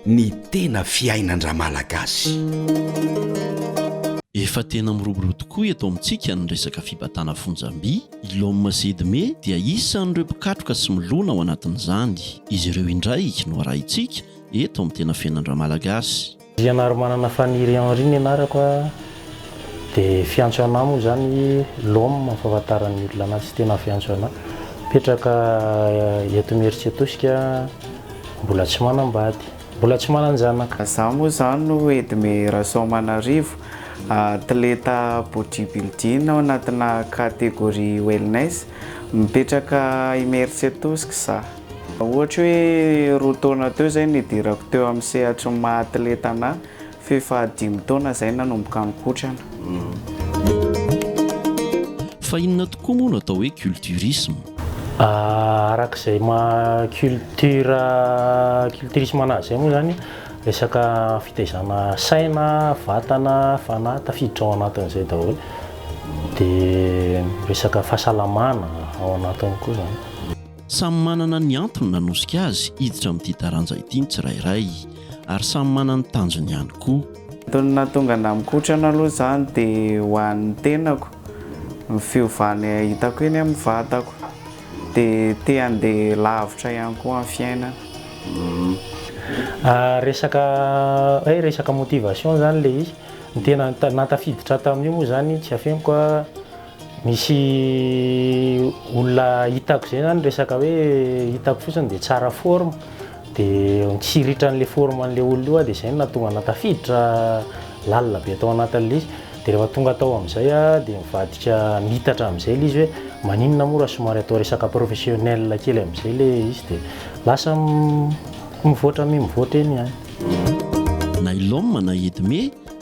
Ny tena fiainan-dRamalagasy. Efa tena miroborobo tokoa eto amintsika ny resaka fibatana fonjam-by. I Lom sy Edme dia isan'ireo mpikatroka sy milona ao anatin'izany. Izy ireo indray no arahintsika eto amin'ny Tena Fiainan-dRamalagasy. Andrianarimanana Faniry Henri ny anarako a, dia fiantso anà moa izany Lom amin'ny fahafantaran'ny olona anà sy tena fiantso anà. Mipetraka eto Imerintsiatosika, mbola tsy manambady, mbola tsy manan-janaka. Izaho moa izany no Edme Rasoamanarivo, atleta bodybuilding ao anatinà catégorie wellness. Mipetraka Imerintsiatosika izaho. Raha ohatra hoe roa taona teo izay nidirako teo amin'ny sehatry ny maha atleta anahy, f'efa dimy taona izay nanomboka nikotrana. Fa inona tokoa moa no atao hoe culturisme? Araka izay maha culture, culturisme anazy izay moa izany, resaka fitaizana saina, vatana, fanahy, tafiditra ao anatin'izay daholo. Dia resaka fahasalamana ao anatiny koa izany. Samy manana ny antony nanosika azy hiditra amin'ity taranja ity ny tsirairay, ary samy manana ny tanjony ihany koa. Antony nahatonga anà mikotrana aloha izany dia ho an'ny tenako, ny fiovana hitako eny amin'ny vatako, dia te handeha lavitra ihany koa amin'ny fiainana. Resaka hoe resaka motivation izany ilay izy, ny tena nahatafiditra tamin'io moa izany tsy afeniko a. Misy olona hitako izay zany resaka hoe hitako fotsiny dia tsara forme dia tsy hiritran'ilay forme an'ilay olona io aho dia izay no nahatonga anah tafiditra lalina be tao anatin'ilay izy. Dia rehefa tonga tao amin'izay aho dia nivadika niitatra amin'izay ilay izy hoe maninona moa raha somary atao resaka professionnel kely amin'izay ilay izy dia lasa mivoatra mi mivoatra eny ihany. Na i Lom na i Edme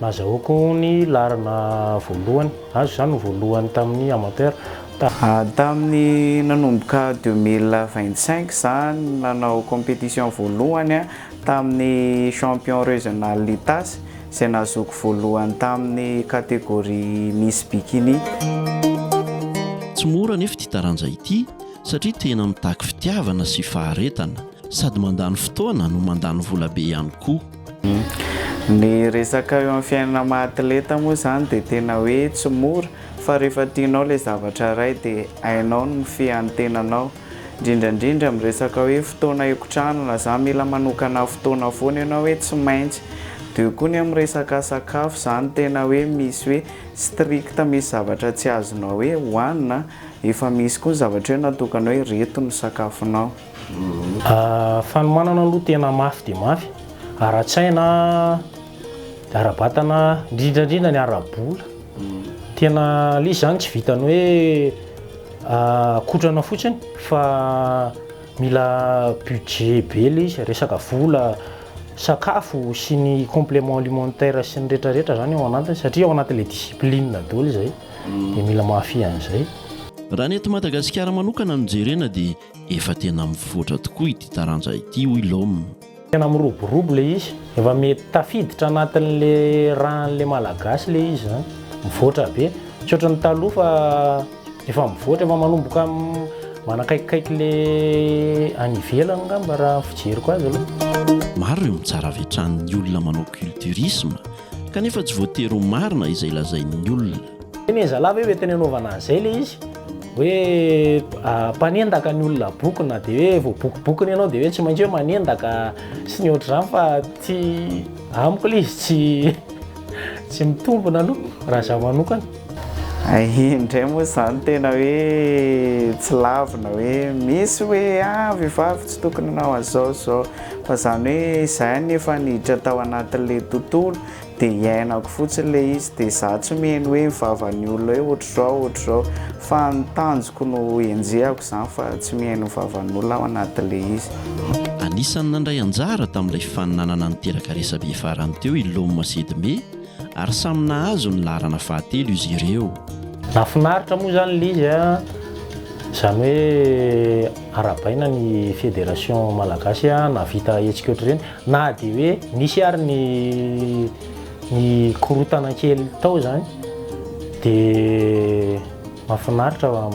Nazahoako ny laharana voalohany. Azo izany ho voalohany tamin'ny amateur. Tamin'ny nanomboka deux mille vingt cinq izany nanao competition voalohany tamin'ny champion regional Itasy izay nahazoako voalohany tamin'ny catégorie Miss Bikini. Tsy mora anefa ity taranja ity satria tena mitaky fitiavana sy faharetana. Sady mandany fotoana no mandany vola be ihany koa. Ny resaka eo amin'ny fiainana maha atleta moa izany dia tena hoe tsy mora fa rehefa tianao ilay zavatra iray dia hainao ny mifehy ny tenanao indrindra indrindra amin'ny resaka hoe fotoana hikotranana izany mila manokana fotoana foana ianao hoe tsy maintsy dia eo koa ny amin'ny resaka sakafo izany tena hoe misy hoe strict misy zavatra tsy azonao hoe hohanina efa misy koa ny zavatra hoe natokana hoe ireto ny sakafonao. Fanomanana aloha tena mafy dia mafy, ara-tsaina, ara-batana, indrindra indrindra ny ara-bola. Tena ilay izy izany tsy vitan'ny hoe kotrana fotsiny fa mila budget be ilay izy, resaka vola, sakafo sy ny complément alimentaire sy ny rehetrarehetra izany ao anatiny satria ao anatin'ilay discipline daholo izay dia mila mahafehy an'izay. Raha ny eto Madagasikara manokana no jerena dia Efa tena mivoatra tokoa ity taranja ity hoy Lom. Tena miroborobo ilay izy, efa mety tafiditra anatin'ilay ràn'ilay Malagasy ilay izy izany, mivoatra be. Tsy ohatran'ny taloha fa efa mivoatra, efa manomboka manakaikikaiky ilay any ivelany angamba raha ny fijeriko azy aloha. Maro ireo mitsara avy hatrany ny olona manao culturisme kanefa tsy voatery ho marina izay lazain'ny olona. Tena zalahy ve hoe tena anaovana an'izay ilay izy? Hoe mpanendaka ny olona boky na dia hoe voabokobokona ianao dia hoe tsy maintsy hoe manendaka sy ny ohatr'izany fa tsy amiko ilay izy tsy tsy mitombina aloha raha izaho manokana. Hay indray moa izany tena hoe tsy lavina hoe misy hoe ah vehivavy tsy tokony hanao an'izao izao fa izany hoe izay anefa niditra tao anatin'ilay tontolo Dia hiainako fotsiny ilay izy, dia izaho tsy miheno hoe vavan'ny olona hoe ohatr'izao, ohatr'izao, fa ny tanjoko no henjehako izany fa tsy miheno vavan'olona aho anatin'ilay izy. Anisan'ny nandray anjara tamin'ilay fifaninanana niteraka resabe farany teo i Loma sy Edme ary samy nahazo ny laharana fahatelo izy ireo. Nahafinaritra moa izany ilay izy an! Izany hoe arahabaina ny Fédération Malagasy nahavita hetsika ohatr'ireny. Na dia hoe nisy ary ny ny korontana kely tao izany dia mahafinaritra fa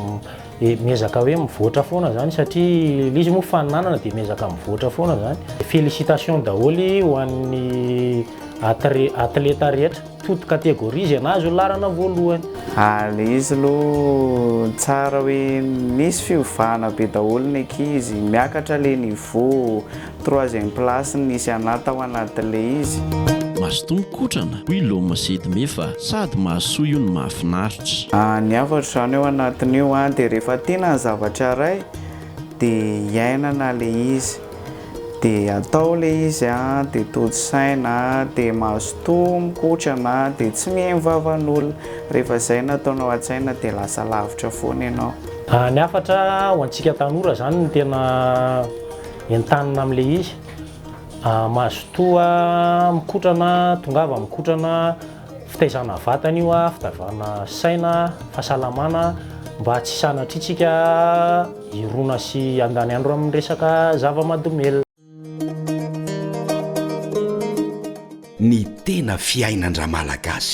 miezaka hoe mivoatra foana izany satria ilay izy moa faninanana dia miezaka mivoatra foana izany. Félicitations daholo ho an'ny atleta rehetra. Foot categories zay nahazo ny laharana voalohany. Ary izy aloha tsara hoe misy fiovana be daholo ny ankizy, miakatra le niveau, troisième place no nisy anah tao anaty le izy. Mazotoa mikotrana, hoy Loma sy Edme fa sady mahasoa io no mahafinaritra. Ny hafatro izany ao anatin'io dia rehefa tiana ny zavatra iray dia iainana ilay izy. De atao le izy a, de tojo saina a, de mazotoa mikotrana a, de tsy mihaino vavan'olona. Rehefa izay no ataonao an-tsaina de lasa lavitra foana ianao. Ny hafatra ho antsika tanora izany no tena entanina amin'ilay izy, mazotoa mikotrana, tongava mikotrana Fitaizana vatana io a, fitaivana saina, fahasalamana mba tsy sanatriantsika hirona sy handany andro amin'ny resaka zava-mahadomelina. Ny tena fiainan-dRamalagasy.